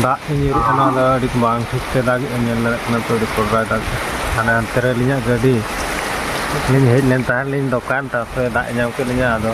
ᱫᱟᱜ ᱮ ᱧᱩᱨᱩᱜ ᱠᱟᱱᱟ ᱫᱚ ᱟᱹᱰᱤ ᱵᱟᱝ ᱴᱷᱤᱠ ᱛᱮ ᱫᱟᱜ ᱮ ᱧᱮᱞ ᱫᱟᱲᱮᱭᱟᱜ ᱠᱟᱱᱟ ᱛᱚ ᱟᱹᱰᱤ ᱯᱚᱨ ᱵᱟᱭ ᱫᱟᱜ ᱦᱟᱱᱮ ᱦᱟᱱᱛᱮ ᱨᱮ ᱟᱹᱞᱤᱧᱟᱜ ᱜᱟᱹᱰᱤ ᱞᱤᱧ ᱦᱮᱡ ᱞᱮᱱ ᱛᱟᱦᱮᱸᱫ ᱞᱤᱧ ᱫᱚᱠᱟᱱ ᱛᱟᱨᱯᱚᱨᱮ ᱫᱟᱜ ᱧᱟᱢ ᱠᱮᱫ ᱞᱤᱧᱟ ᱟᱫᱚ